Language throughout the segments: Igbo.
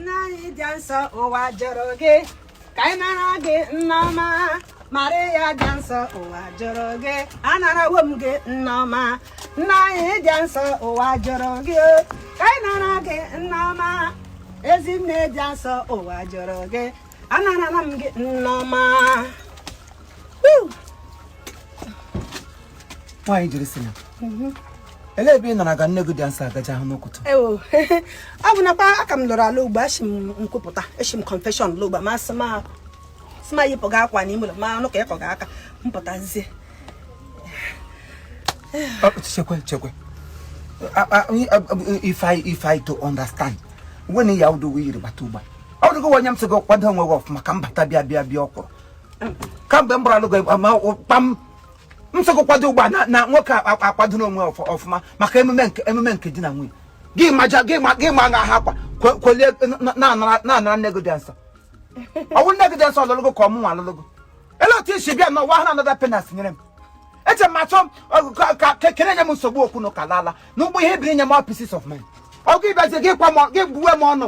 nne anyị dị nsọ ụwa jụrụ gị ka anyị nara gị nneọma maria dị nsọ ụwa jụrụ gị anarawo m gị nneọma nne anyị dị nsọ ụwa jụrụ gị ka anyị nara gị nneọma ezinne dị nsọ ụwa jụrụ gị anarala m gị nneọma nwaanyị jiri si na mhm. elee ebe ị naraga nne gị dị nsọ gaje ahụ n'ụkụtụ ewo ọ bụ nakwa ka m lọrọ alọ ugba eshi m nkwupụta eshi m confession lọ ugba ma sị ma sị ma yipụga akwa n'ime ụlọ ma anụ ka ị kụga aka m pụtazie chekwe chekwe if i if i to understand when ya ụdị uwe i yiri bata ugba ọ dịgo anya m sị gị kwado onwe gị ọfụma ka m bata bịa bịa bịa ọkwụrụ kamgbe m bịara alụ gị kpam m sị gị kwado ugba na na nwoke a- a- akwadona onwe ọfụ- ọfụma maka emume nke emume nke di na nwunye gị maja gị ma gị ma ha akwa kwo- kwolie na- na-anara na-anara nne gị dị nsọ ọ wụ nne gị dị nsọ ọ lụlụ gị ka ọ mụnwa lụlụ gị elee otu i si bịa n'ụwa ha na-anata penance nyere m eche m achọ m ka- ka ka ị na-enye m nsogbu okwu na ụka laala n'ụgbọ ihe biri nye m pieces of mind ọ gị bịazie gị kwa m ọ- gị gbuwe m ọnụ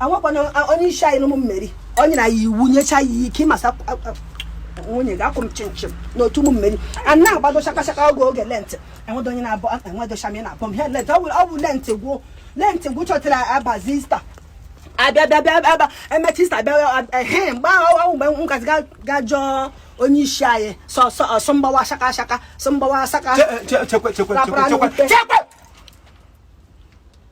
awụkwana onye isi anyị n'ụmụ meri o nyere ya iwu nyecha ya ike ị ma sị nwunye gị akwụ m chimchim n'otu ụmụ meri a na-agbado shaka shaka oge oge lentị enwedo onye na-abọ enwedo shami na-abọ m ihe lentị ọ bụ lentị gwụ lentị gwụ chọtara abazie ista abịa bịa bịa bịa emechaa ista bịa ehe mgbe ahụ awụ mgbe m gazi ga jụọ onye isi anyị sị sị ọ sị m gbawa shaka shaka sị m gbawa shaka chekwe chekwe chekwe chekwe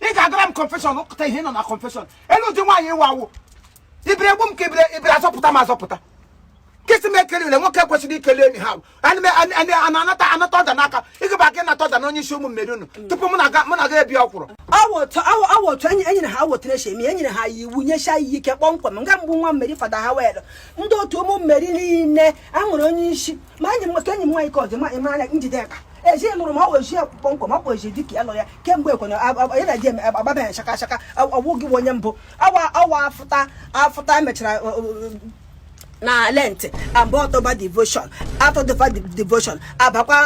ị ga-agara m confession ụkụta ihe nọ na confession elee ụdị nwaanyị ịwa wụ ị bịara egbu m ka ị bịara ị bịara azọpụta m azọpụta nkịtị m ekele ule nwoke kwesịrị ikele enyi ha anata anata order n'aka ị gaba ka ị nata order na onye isi ụmụ meri unu tupu mụ na ga- mụ na gị ebi ọkwụrụ awụ otu enyi enyere ha awotara eche eme enyere ha ya iwu nyesha ya ike kpọmkwem nga m bụ nwa meri fada hawela ndị otu ụmụ meri niile a nwere onye isi ma enyi m nwoke enyi m nwaanyị ka ọ dị ma ị mara njide aka eji lụrụ m awụ e ji kpọmkwem ọkwa eji dịka ya lọ ya kemgbe ekwena ya na-eji eme agbaba ya shaka shaka awụ gị bụ onye mbụ awa awa afụta afụta emechara na lent aba october devotion afụta devotion abakwa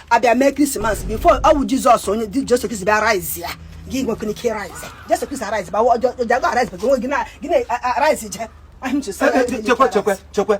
abịa mee christmas before ọ bụ jesus onye jesu kristi bịa rise ya gị nwekwana ike rise jesu kristi rise ba ọjọọ ọjọọ rise ba gị na rise je chekwe chekwe chekwe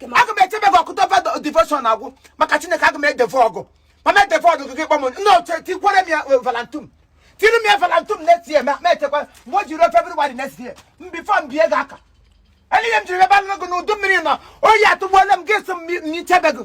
aga m echebe gị october devotion agwụ maka chineke aga m edeve gị ma m edeve gị kpọm n'oche tikwere m ya eh, valantum tiri m ya valantum next year ma ma echekwa mgbe o ji eru february next year m before m bie gị aka elee ihe m jiri bịa alụ gị n'udu mmiri na oyi atụgbuola m gị sị m mi- m chebe gị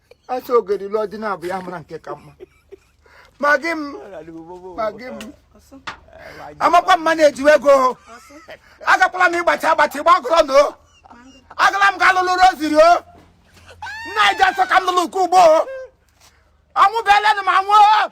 a sị ogeri lụọ di naabọ ya mara nke ka mma ma gị m ma gị m amakwa mma na-eji ego agakwala m ịgbachi agbachi gbagọrọ na o agala m ga alụlụ roziri o nna e ji asọ ka m lụlụ nke ugbo o ọnwụ beelenụ ma nwụọ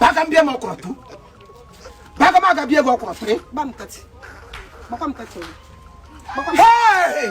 baga m bịa m ọkwụrụ tu baga m aga bịa gị ọkwụrụ tụrị Hey!